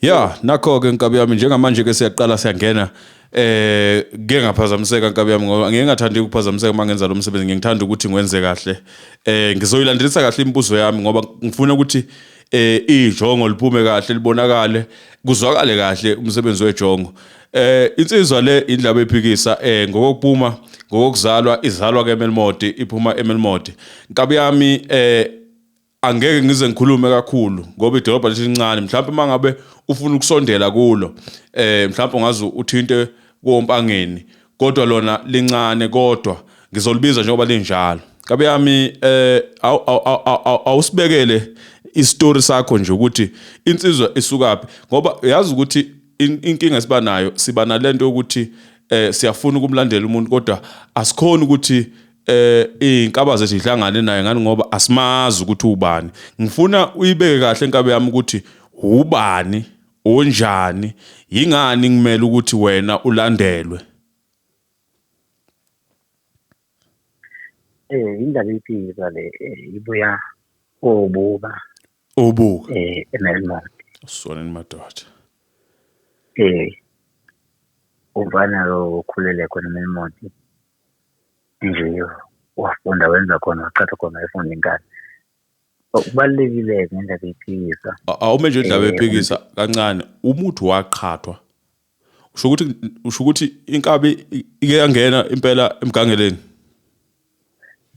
Ya, nakho ke nkabi yami njengamanje ke siyaqala siyangena eh ke ngaphazamiseka nkabi yami ngoba ngeke ngathanda ukuphazamiseka uma ngenza lo msebenzi ngingithanda ukuthi ngwenze kahle. Eh ngizoyilandelisa kahle imibuzo yami ngoba ngifuna ukuthi eh ijongo liphume kahle libonakale kuzwakale kahle umsebenzi wejongo. Eh insizwa le indlaba ephikisa eh ngokokupuma ngokokuzalwa izalwa ke eMelmodi iphuma eMelmodi. Nkabi yami eh angeke ngize ngikhulume kakhulu ngoba idolobha lelincane mhlawumbe uma ngabe ufuna ukusondela kulo eh mhlawumbe ungaze uthinte kompangeni kodwa lona lincane kodwa ngizolibiza njengoba linjalo kabe yami eh awusibekele istory sakho nje ukuthi insizwa isukaphi ngoba uyazi ukuthi inkinga siba nayo siba nalento ukuthi eh siyafuna ukumlandela umuntu kodwa asikhona ukuthi eh izinkaba zethu ihlangane naye ngani ngoba asimazi ukuthi ubani ngifuna uyibeke kahle inkabe yami ukuthi ubani onjani yingani ngimele ukuthi wena ulandelwe eh indaba iphika le eh, ibuya obuka obuka eh emelmont sona madoda eh uvana lo khulele khona emelmont nje wafunda wenza khona waqhatha khona wayefunda inkani so kubalulekile-ke ngendaba eyiphikisa A- awume nje indaba Eh, ephikisa kancane umuthi waqhathwa usho ukuthi usho ukuthi inkabi i- ike yangena impela emgangeleni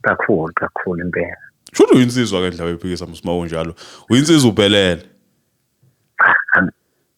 kakhulu kakhulu impela sho ukuthi uyinsizwa ke ndaba ephikisa msima unjalo uyinsizwa ubhelele Cha, ang-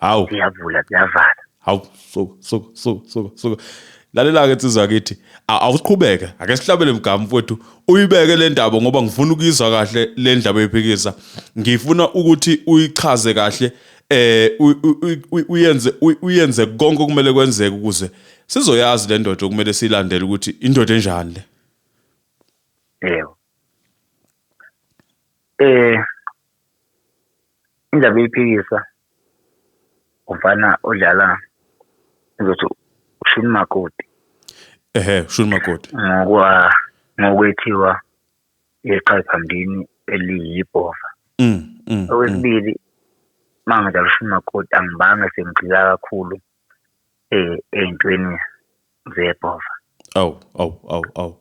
hawu siyavula siyavala hawu suka suka suka suka suka lalela-ke nsizwa yakithi awusiqhubeke ake sihlabele mgama mfowethu uyibeke le ndaba ngoba ngifuna ukuyizwa kahle le ndaba ephikisa ngifuna ukuthi uyichaze kahle eh uyenze uyenze konke okumele kwenzeke ukuze sizoyazi le ndoda okumele silandele ukuthi indoda enjani le yebo eh Indaba iyiphikiswa umfana odlala ngizothi ushuni makoti ehe ushuni makoti ngokwa ngokwethiwa yeqhayi phambili eliyibhova mm, mm, mm. okwesibili mangidlala ushuni makoti angibanga sengigxila kakhulu eh, ey'ntweni zebhova awu awu awu awu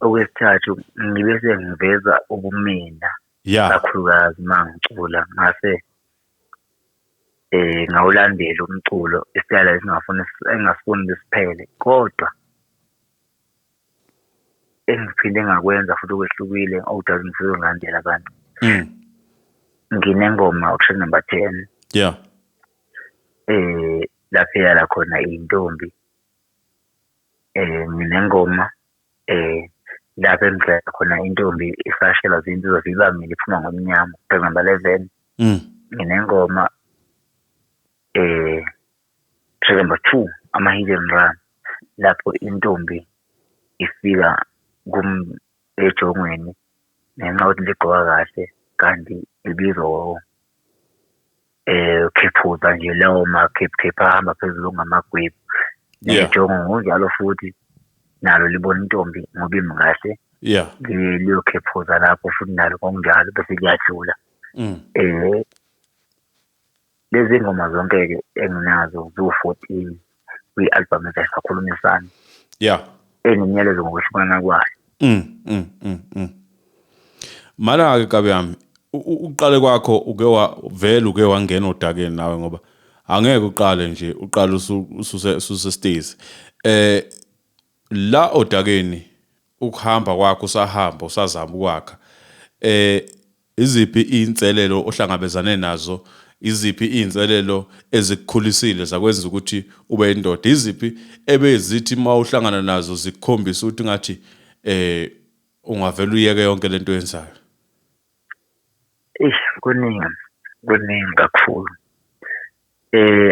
okwesithathu ngibe sengiveza ubumina ya kakhulukazi uma ngicula ngase eh ngawulandela umculo isitayela esingafuni engasifuni besiphele kodwa engiphinde ngakwenza futhi okwehlukile okudala ukuthi ngilandele abantu mm. nginengoma option number ten yeah eh lapho yala khona intombi eh nginengoma eh lapho engidlela khona intombi isashela zinto zivibamile iphuma ngomnyama option number eleven mm. nginengoma eh Track number two, ama-hit and run, lapho intombi ifika ejongweni ngenxa yokuthi ligqoka kahle kanti ibizwa khephuza nje lawo makhephukhephu ahamba phezulu okungamagwebu. Yeah. Nejongo ngokunjalo futhi nalo libona intombi ngoba imi kahle. Yeah. Liyokhephuza lapho futhi nalo ngokunjalo bese liyajula. Mm. Eh, Lezi ngoma zonke-ke enginazo ziwu-fourteen kwi-albhamu ethi Sakhulumisana. Ya. Enginyeleza ngokwehlukana kwayo. Mm, mm, mm, mm. Mana-ke kabi yami, uqale kwakho uke wavele uke wangena odakeni nawe ngoba angeke uqale nje uqale ususesitezi. Eh La odakeni ukuhamba kwakho usahamba usazama ukwakha eh iziphi izinselelo ohlangabezane nazo iziphi izinselelo ezikukhulisile zakwenza ukuthi ube indoda iziphi ebezithi mawuhlangana nazo zikukhombisa ukuthi ngathi eh ungavela uyeke yonke lento oyenzayo. Eish kuningi, kuningi kakhulu.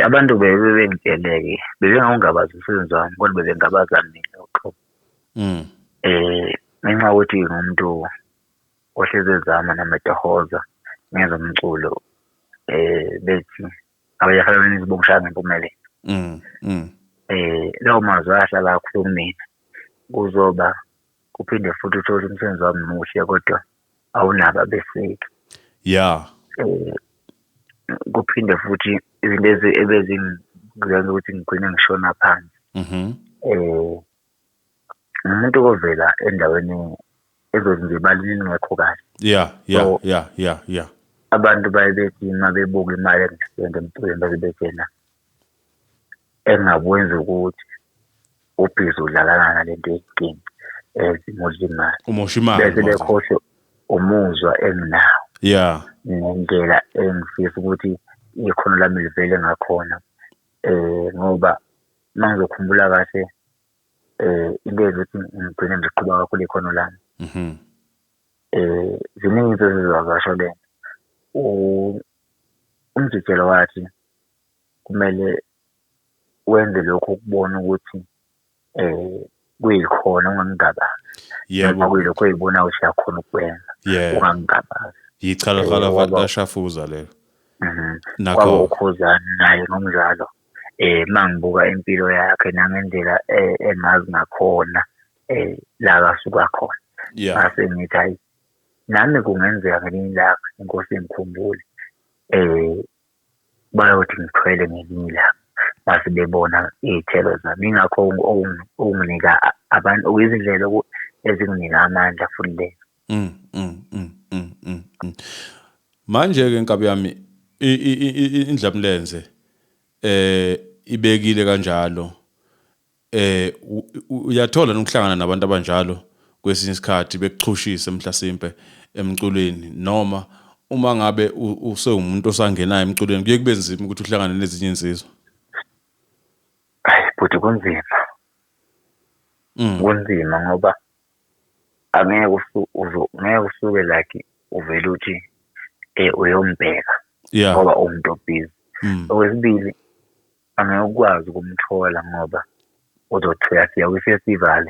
Abantu bebe bengitshele-ke, bebengawungabaza umsebenzi wami kodwa bebengabaza mina uqobo. Ngenxa yokuthi ngingumuntu ohlezi ezama noma etohoza, ngenza umculo, bethi bongishaya ngempumelelo. Lawo mazwi ahlala akhuluma kumina, kuzoba. uphinde futhi uthole umsebenzi wami muhle kodwa awunabo abeseki ya eh, kuphinde futhi izinto ezi ebezingenza ukuthi ngigcine ngishona phansi mhm eh umuntu kovela endaweni ezothi nje balini ngekho kahle ya ya ya ya ya abantu baye bethi uma bebuka imali engisende emculweni baze bethena Engingakwenza ukuthi ubhizi udlalana nale nto eyinkinga as imosha imali. Umosha imali. Bese bekhohlwe umuzwa enginawo. Yeah. Nendlela engifisa ukuthi ikhono lami livele ngakhona. Eh ngoba uma ngizokhumbula kahle eh into eyenza ukuthi ngigcine ngiqhuba kakhulu ikhono lami. Mhm. Eh ziningi izinto ezizovakasha . Umjikelo wathi kumele wenze lokhu ukubona ukuthi um kuyikhona ungangigabazi noma kuyilokhu oyibonayo ukuthi uyakhona ukukwenza ungangigabazi. Yichala ghala vakashafuza lelo. Mhm. Kwaba uKhuzani naye ngomdlalo eh mangibuka impilo yakhe nangendlela eh, engazi ngakhona eh la kasuka khona. Ngase ngithi hayi nami kungenzeka ngelinye ilanga inkosi ingikhumbule bayothi ngithwele ngelinye ilanga mase bebona iy'thelo zami. Yingakho okunginika abantu okuyizindlela ezinginika amandla futhi leyo. Mm, mm, mm, mm, mm, mm. Manje-ke nkabi yami indlamlenze eh ibekile kanjalo Eh uyathola nokuhlangana nabantu abanjalo kwesinye isikhathi bekuchushise mhlasimpe emculweni noma uma ngabe usewumuntu osangenayo emculweni kuye kube nzima ukuthi uhlangane nezinye insizwa ayi bhuti kunzima mm. kunzima ngoba angeke ngeke usuke like uvele uthi um uyombheka ngoba uwumuntu obhizi mm. okwesibili angeke ukwazi ukumthola ngoba uzothi uyafika kwi-festival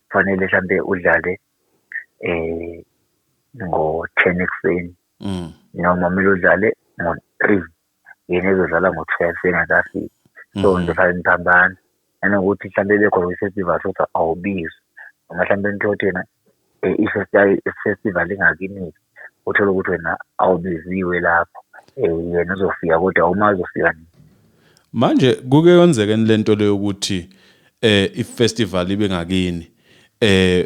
kufanele mhlampe udlale eh ngo-ten ekuseni mm. noma kumele udlale ngo-three yena ezodlala ngo-twelve engakafiki mm. so ngizofake ngiphambana nanokuthi mhlawumbe bekhona kwi-festival sothi awubizwe noma mhlawumbe nithole ukuthi yena eh, ifestival ingakiniki uthole ukuthi wena awubiziwe lapho um yena uzofika kodwa uma uzofika nini manje kuke yonzeke le nto leyo ukuthi um ifestival ibe ngakini um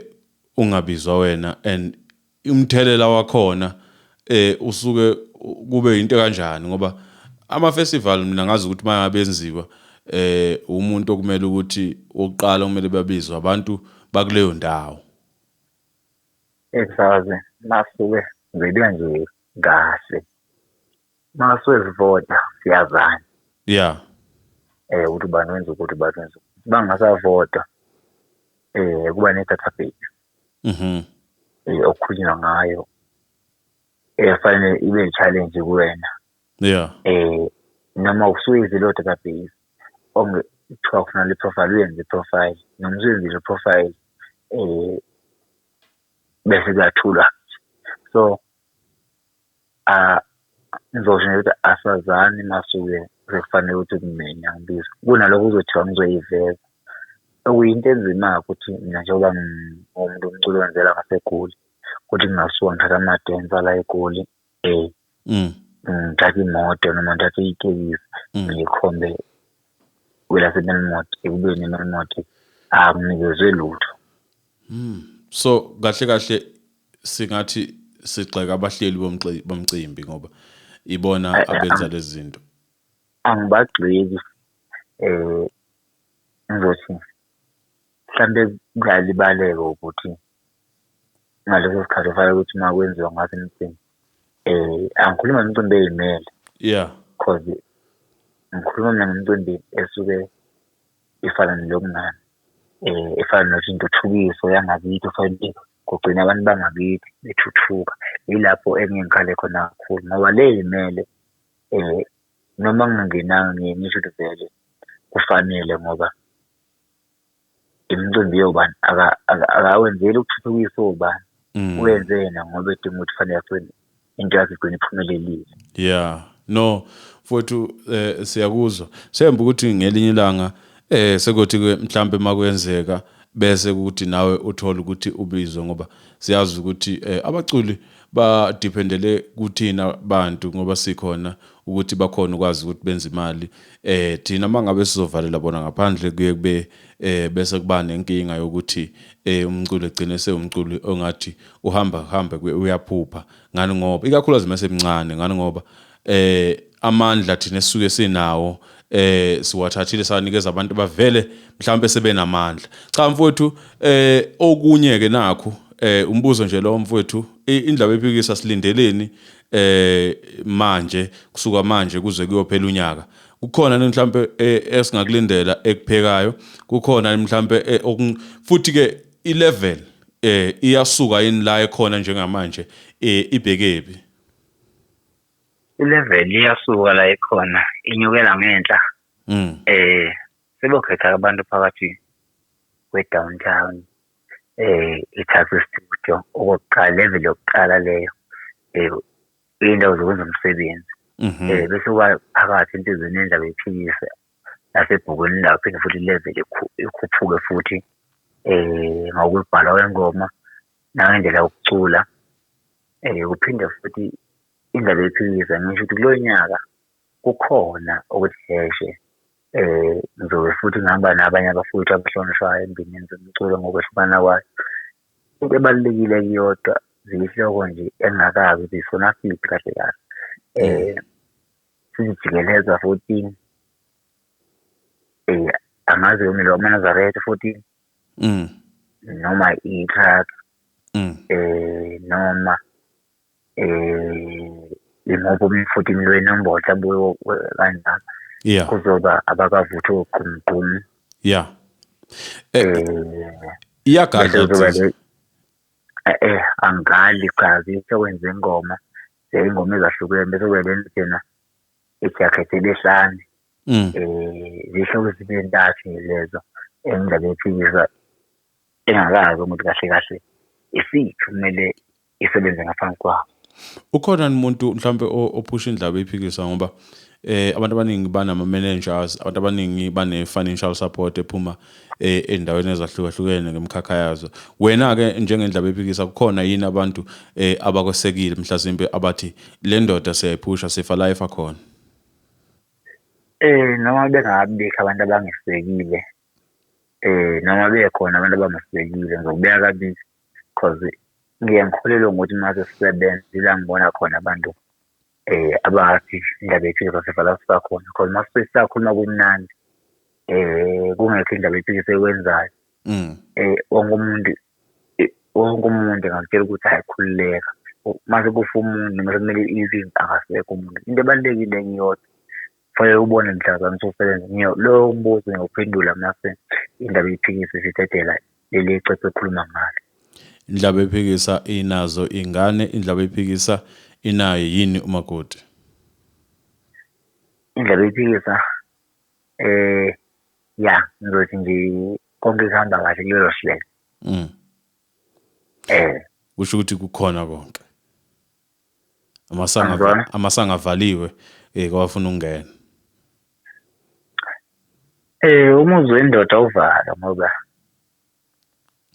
ungabizwa wena and umthelela wakhona eh usuke kube into kanjani ngoba ama festival mina ngazi ukuthi mayabenziwa eh umuntu okumele ukuthi oqala kumele babizwe abantu bakuleyo ndawo esaze nasuke ngidwe nje kahle masuke sivota siyazana yeah eh ukuthi bani wenza ukuthi bani wenza bangasa vota eh kuba ne database Mhm. eh, okukhulunywa ngayo efanele ibe i-challenge kuwena Yeah. eh noma usuyizile o-database onge kuthiwa kufuna le profile uyenze i-profile noma usuyenzile i-profile eh bese kuyathulwa so Ngizosho nje ukuthi asazani masuke sekufanele ukuthi kumina ngibiza kunalokho kuzothiwa ngizoyiveza. Okuyinto enzima-ke ukuthi mina njengoba ngiwumuntu umculo wenzela ngaseGoli ukuthi kungasuka ngithathe amadensa la eGoli ngithathe imoto noma ngithathe itekisi ngikhombe kwelaseMelmoth ekubeni iMelmoth anginikezwe lutho. Hmm. So kahle kahle singathi sigxeka abahleli bomcimbi ngoba ibona eh, eh, abenza lezi zinto. Angibagxeki eh ngizothi mhlambe kuyalibaleka ukuthi ngaleso sikhathi kufanele ukuthi uma kwenziwa ngaso imicimbi eh angikhuluma imicimbi eyimele yeah cause ngikhuluma mina ngomcimbi esuke efana nelobungani efana nokuthi intuthukiso yangakithi ofanele kugcina abantu bangakithi bethuthuka. Yilapho engike ngikhale khona kakhulu ngoba le y'mele noma ngingenanga ngiye ngisho ukuthi vele kufanele ngoba imicimbi yobani akawenzeli ukuthuthukisa obani. Uwenze yena ngoba edinga ukuthi kufanele . into yakho igcina iphumelelile yeah no mfowethu eh, siyakuzwa semba ukuthi ngelinye ilanga eh sekuthi ke mhlambe makwenzeka bese ukuthi nawe uthola ukuthi ubizwe ngoba siyazi ukuthi eh, abaculi badependele kuthina bantu ngoba sikhona ukuthi bakhona ukwazi ukuthi benze imali eh thina mangabe sizovalela bona ngaphandle kuye kube eh bese kuba nenkinga yokuthi eh umculo egcine sewumculo ongathi uhamba hamba uyaphupha ngani ngoba ikakhulukazi mase mncane ngani ngoba eh amandla thina sisuke sinawo eh siwathathile sanikeza abantu bavele mhlawumbe sebenamandla cha mfowethu eh okunye ke nakho eh umbuzo nje lo mfowethu indaba ephikisa silindeleni eh manje kusuka manje kuze kuyophela unyaka kukhona ni mhlambe eh, esingakulindela ekuphekayo kukhona mhlambe eh, futhi ke i level eh iyasuka yini la ekhona njengamanje eh ibhekebi i level iyasuka la ekhona inyukela ngenhla mm eh sebokhetha abantu phakathi kwe downtown eh ithathe studio okokuqala level yokuqala leyo eh indawo zokwenza umsebenzi mhm. eh bese uba phakathi entizweni endaba ephikise nasebhukwini lawo phinde futhi level ikhuphuke futhi eh ngokubhala kwengoma nangendlela yokucula eh kuphinde futhi indaba ephikise ngisho ukuthi kulo nyaka kukhona okuhleshe Eh, ngizobe futhi ngihamba nabanye abafowethu abahlonishwayo endimeni zomculo ngokwehlukana kwayo. Into ebalulekile iyodwa, ziyihloko nje engingakaze ukuthi zifuna feat kahle kahle. Eh, sizijikeleza futhi eh, angazi yona lo Manazaretha futhi noma i-truck eh, noma. um yimuphi umfuthi lwenombolo mhlawumbe kanjalo yeah kuzoba abakavuthi ogqumgqumu yeah um iyagadla eh angali cha sekwenza ingoma ingoma ezahlukene bese kuba lena thina ijakhethi lehlane um zihlobo zibe ntathu lezo engingabe phikisa engakazi ukuthi kahle kahle isiphi kumele isebenze ngaphansi kwabo ukhona umuntu mhlawumbe ophusha indlaba ephikisa ngoba eh abantu abaningi banama managers abantu abaningi bane financial support ephuma eh, endaweni ezahlukahlukene ngemkhakha yazo wena ke njengendlaba ephikisa kukhona yini abantu eh abakwesekile mhlasimbe abathi le ndoda siyayiphusha sifa la ifa khona eh noma bengabikho abantu abangesekile eh noma bekhona abantu abangesekile ngizokubeka kabili cause ngiye ngikholelwe ngokuthi uma sesisebenza ila ngibona khona abantu um abathi indaba yephikisa sivala sisakhona cause uma sisakhuluma kumnandi um kungekho indaba yephikisa ekwenzayo um wonke umuntu wonke umuntu engakutshela ukuthi hhayi khululeka uma sekufa umuntu noma sekumele izini akasekho umuntu into ebalulekile ngiyodwa Kufanele ubone mhlazane ususebenza. Loyo mbuzo ngiyawuphendula mase indaba iphikisa isidedela leli ecece ekhuluma ngalo. Indlaba ephikisa inazo ingane, indlaba ephikisa inaye yini umakoti? Indlaba ephikisa eh ya ngizothi nje konke kuhamba kahle kulelo hlelo. Mm. Eh. Kusho ukuthi kukhona konke. Amasanga Angizwani. amasanga avaliwe eh kwafuna ukungena. Eh umuzi wendoda uvalwa ngoba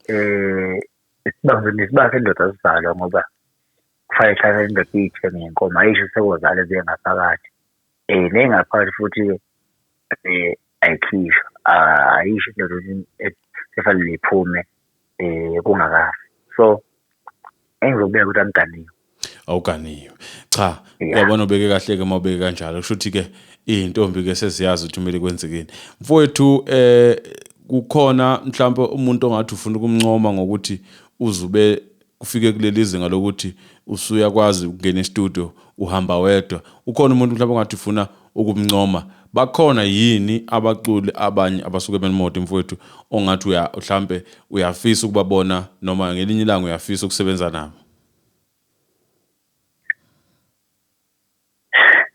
eh isibambe nesibanga sendoda sivalwa ngoba kufanele hlale indoda iyithe ngenkomo ayisho sekozale ziye ngaphakathi. Nengaphakathi futhi-ke ayikhishwa, ayisho into vele ekufanele iphume kungakafi. So, engizokubeka ukuthi angiganiwe. Awuganiwe. Cha, uyabona ubeke kahle-ke uma ubeke kanjalo. Kusho ukuthi-ke iy'ntombi-ke seziyazi ukuthi kumele kwenzekeni. Mfowethu um kukhona mhlawumpe umuntu ongathi ufuna ukumncoma ngokuthi uzube kufike kuleli zinga lokuthi usuyakwazi ukungena estudio uhamba wedwa ukhona umuntu mhlawumbe ongathi ufuna ukumncoma bakhona yini abaculi abanye abasuke benimoto mfowethu ongathi uya mhlambe uyafisa ukubabona noma ngelinye ilanga uyafisa ukusebenza nabo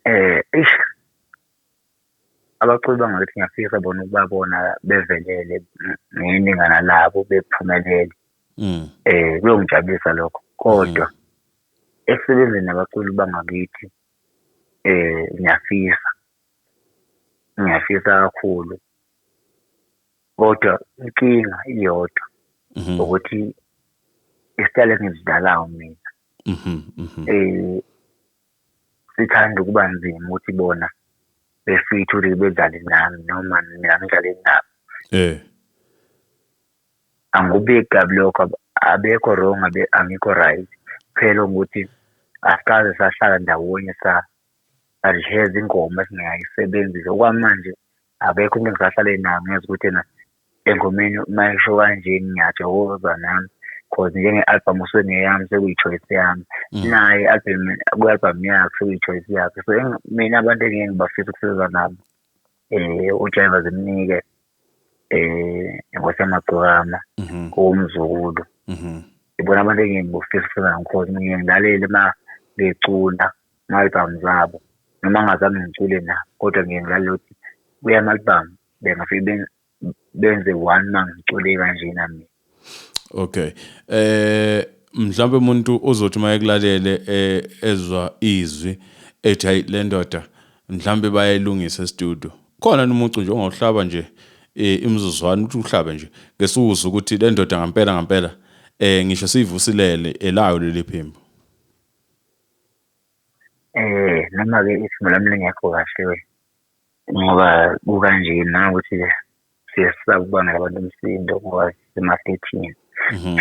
eh Abaculi bangakithi ngiyafisa bona ukubabona bevelele ngeningana labo bephumelele. Mm. Eh kuyongijabulisa lokho. Kodwa mm. esebenzeni nabaculi bangakithi eh ngiyafisa. Ngiyafisa kakhulu. Kodwa inkinga iyodwa mm-hmm. ukuthi isitayela engizidalayo mina. Mhm. mhm. Eh sithanda ukuba nzima ukuthi bona befitha ukuthi bedlale nami noma mina ngidlale nabo eh angikubeki kabi lokho abekho wrong abe angikho right phela ukuthi asikaze sahlala ndawonye sa adliheza ingoma esingayisebenzisa okwamanje Akekho umuntu engisahlale naye ngiyazi ukuthi ena engomeni uma esho kanje ngiyathokoza nami cause njenge-album usuke ngeyami sekuyi-choice yami mm. naye album kwi-album yakhe sekuyi-choice yakhe so mina abantu engeke ngibafisa ukusebenza nabo um ujiva zimnike um inkosi yamagcokama mhm. owomzukulu mhm. ibona abantu engeke ngibafisa ukusebenza nabo cause ngiye ngilalele uma becula ama-album zabo noma ngingazange ngicule nabo kodwa ngiye ngilalele ukuthi kuya ama-album bengafike benze one uma ngicule kanjena mina okay eh mhlawumbe umuntu uzothi uma ekulalele eh, ezwa izwi ethi hayi le ndoda mhlawumbe bayayilungisa estudio khona nomuntu nje ongawuhlaba nje eh, imizuzwana ukuthi uhlabe nje ngesukuza ukuthi le ndoda ngampela ngampela eh ngisho siyivusilele elayo leli phimbo Noma-ke isimo lami lingekho kahle-ke ngoba kukanje nangokuthi-ke siye sisaba ukubangela abantu umsindo ngoba sisemaflethini. Mhm.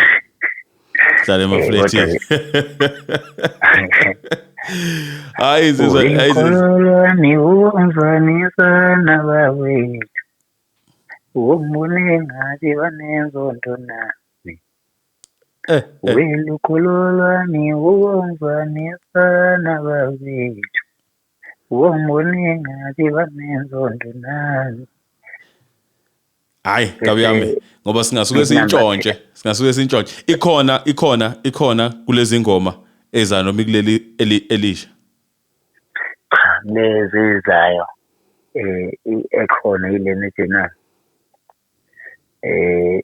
Sihlala emaflethini. Hayi zizwa hayi zizwa. Niwumvanisa nabawethu. Umbone ngathi banenzondo na. Eh, eh. Welukhululwami uwonzwanisana babethu wongonengabi banenzondo nami hayi kabi yami ngoba singasuke sintshontshe singasuke sintshontshe ikhona ikhona ikhona kulezi ngoma eza noma ikuleli elisha cha lezi izayo eh ekhona ilena ejena eh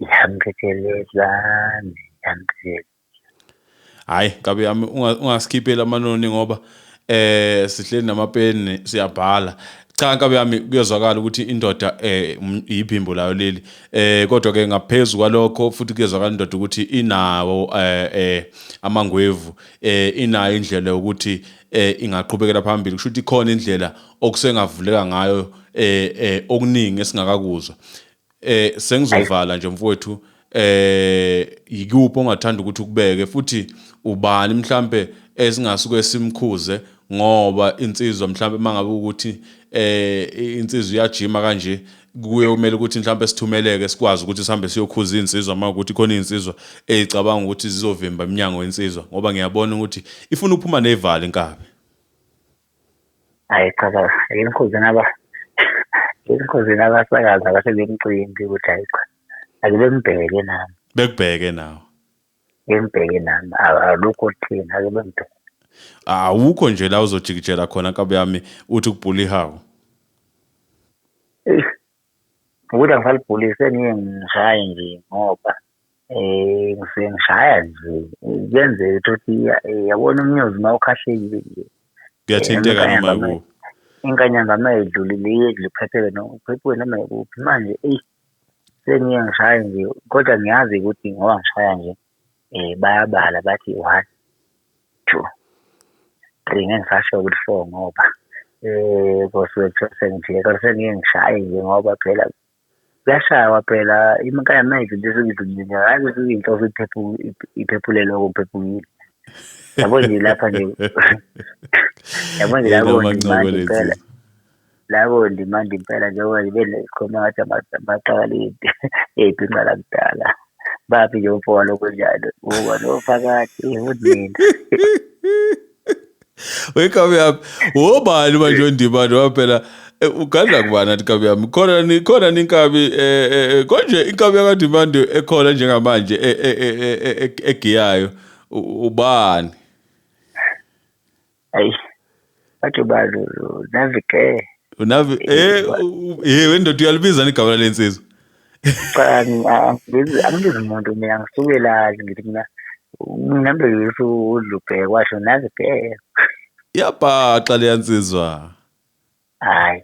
Yamqedelezani, yamqedelezani. Hayi kabi yami unga- ungasikhipheli amanoni ngoba eh sihleli namapeni siyabhala. Cha kabi yami kuyezwakala ukuthi indoda eh um- yiphimbo layo leli. Eh kodwa ke ngaphezulu kwalokho futhi kuyezwakala indoda ukuthi inawo eh eh amangwevu eh inayo indlela yokuthi eh ingaqhubekela phambili. Kusho ukuthi ikhona indlela okusengavuleka ngayo eh eh okuningi esingakakuzwa. Eh sengizovala nje mfowethu eh yikuphi ongathanda ukuthi ukubeke futhi ubani mhlambe esingasuke simkhuze ngoba insizwa mhlambe mangabe ukuthi eh insizwa iyajima kanje kuye kumele ukuthi mhlambe sithumeleke sikwazi ukuthi sihambe siyokhuza insizwa uma ukuthi khona insizwa ezicabanga ukuthi zizovimba iminyango yensizwa ngoba ngiyabona ukuthi ifuna ukuphuma nevali inkabi hhayi cha baba enkundleni aba enkundleni abasakazi abasebemcimbi ukuthi hhayi cha ake bembheke nami bekubheke nawe bembheke nami alukho thina ake bembheke awukho nje la uzojikijela khona nkabi yami uthi kubhula ihawu Ukuthi angisalibhuli sengiye ngishaye nje ngoba um ngisuke ngishaya nje kuyenzeka ukuthi yabona umnyozi uma ukhahlekile nje kuyathinteka noma yikuphi inkanyamba uma idlulile iye kuliphetheke noma uphephuke noma yikuphi manje eyi sengiye ngishaye nje kodwa ngiyazi ukuthi ngoba ngishaya nje bayabala bathi one, two, three ngeke ngisasho ukuthi four ngoba kosuke kuthiwa sengijike kodwa sengike ngishaye nje ngoba phela kuyashaywa phela ikhaya mayizinto ezingidlulile hhayi ukuthi inhloso iphephule lokho ngiphephukile. Yabo nje lapha nje yabo nje lapho nje manje impela. labo ndimandi impela njengoba ngibe nesikhoma ngathi amaqakalidi eyibhinca lakudala baphi nje umfo walokho njalo uba nofakathi unina wekabi yami wobani manje ondibani waphela eh, ugadla kubani athi kabi yami khona khona ninkabi eh, eh, konje inkabi yakadimandi ekhona njengamanje egiyayo ubani ayi bathi ubani unavike unavi eh u- eh wendoda uyalibiza igama lensizwa cha angibizi angibizi umuntu mina ngisuke lazi ngithi mina ngihambe yesu udlubheke washo navike yabhaxa leyansizwa Hhayi,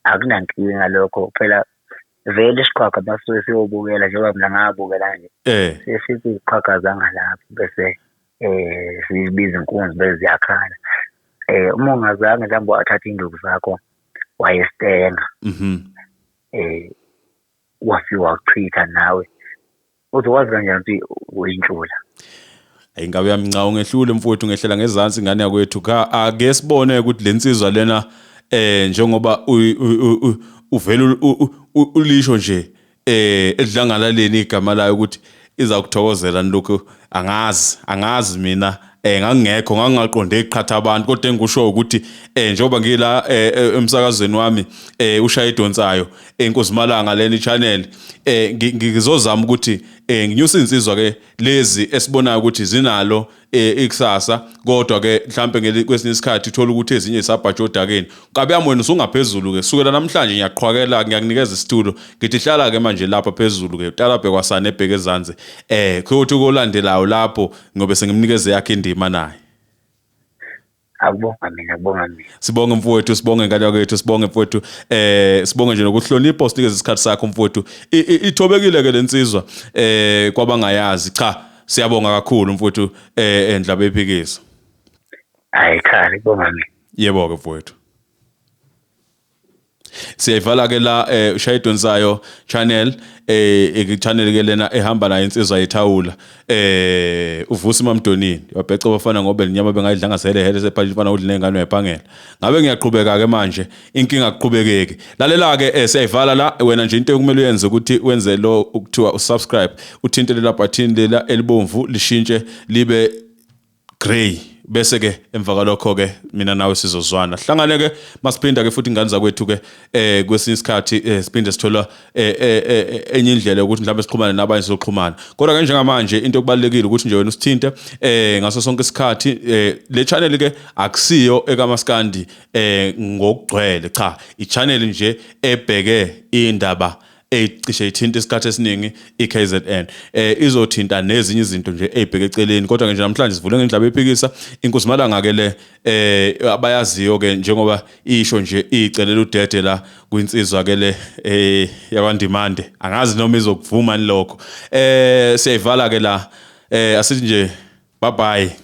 akunankinga lokho phela vele isiqhwaga basuke siyobukela njengoba mina ngabukela nje um sesithi iziqhwaga zangalapho bese um sibiza inkunzi bese ziyakhala um uma ungazange mhlawumbe wathatha iy'nduku zakho wayesenga um mhm. wafike wakuchitha nawe Uthi wazi kanjani ukuthi uyinhlula? Hey ngabe uyamnca ungehlule mfowethu ngehlela ngezansi ingane yakwethu cha ake sibone ukuthi lensizwa lena eh njengoba uvela ulisho nje eh edlangalaleni igama layo ukuthi izakuthokozela lokho angazi angazi mina eh ngangingekho ngangingaqonde iqhatha abantu kodwa engikusho ukuthi eh njengoba ngila eh, eh, emsakazweni wami eh ushaya idonsayo enkozimalanga eh, leni channel eh ngizozama ukuthi eh nginyusa insizwa ke lezi esibonayo ukuthi zinalo eh, ikusasa kodwa ke mhlambe kwesinye isikhathi uthola ukuthi ezinye isabhatsha odakeni kabe yami wena usungaphezulu ke sukela namhlanje ngiyaqhwakela ngiyakunikeza isitulo ngithi hlala ke manje lapha phezulu ke utalabhe kwasane ebheke ezansi eh kuthi kolandelayo lapho ngobe sengimnikeze yakhe indima naye akubonga mina akubonga mina sibonge mfowethu sibonge ngane yakwethu sibonge mfowethu eh sibonge nje nokuhlonipha usinikeze isikhathi sakho mfowethu ithobekile ke lensizwa eh kwabangayazi cha siyabonga kakhulu mfowethu eh endlaba eh, ephikisa hayi cha ngibonga mina yebo ke mfowethu siyayivala ke la eh ushaya idonsayo channel eh channel ke lena ehamba nayo insizwa yethawula eh uvusi mamdonini wabheca bafana ngobe lenyama bengayidlanga sele hele sephathi mfana udla nezingane uyabhangela ngabe ngiyaqhubeka ke manje inkinga kuqhubekeke lalela ke eh siyayivala la wena nje into ekumele uyenze ukuthi wenze lo ukuthiwa usubscribe uthinte lela button lela elibomvu lishintshe libe Grey bese ke emva kwalokho ke mina nawe sizozwana hlangane ke masiphinda ke futhi ingane zakwethu ke eh kwesinye isikhathi eh, siphinde sithola eh, eh, eh, enye indlela ukuthi mhlawumbe sixhumane nabanye sizoxhumana kodwa ke njengamanje into okubalekile ukuthi nje wena usithinte eh ngaso sonke isikhathi eh, le channel ke akusiyo ekamaskandi eh ngokugcwele cha i channel nje ebheke indaba ecishe ithinta isikhathi esiningi iKZN eh izothinta nezinye izinto nje ezibheke eceleni kodwa nje namhlanje sivule ngendlaba ephikisa inkuzimalanga ke le eh abayaziyo ke njengoba isho nje icelela udede la kwinsizwa ke le eh yakwandimande angazi noma izokuvuma lokho eh siyayivala ke la eh asithi nje bye bye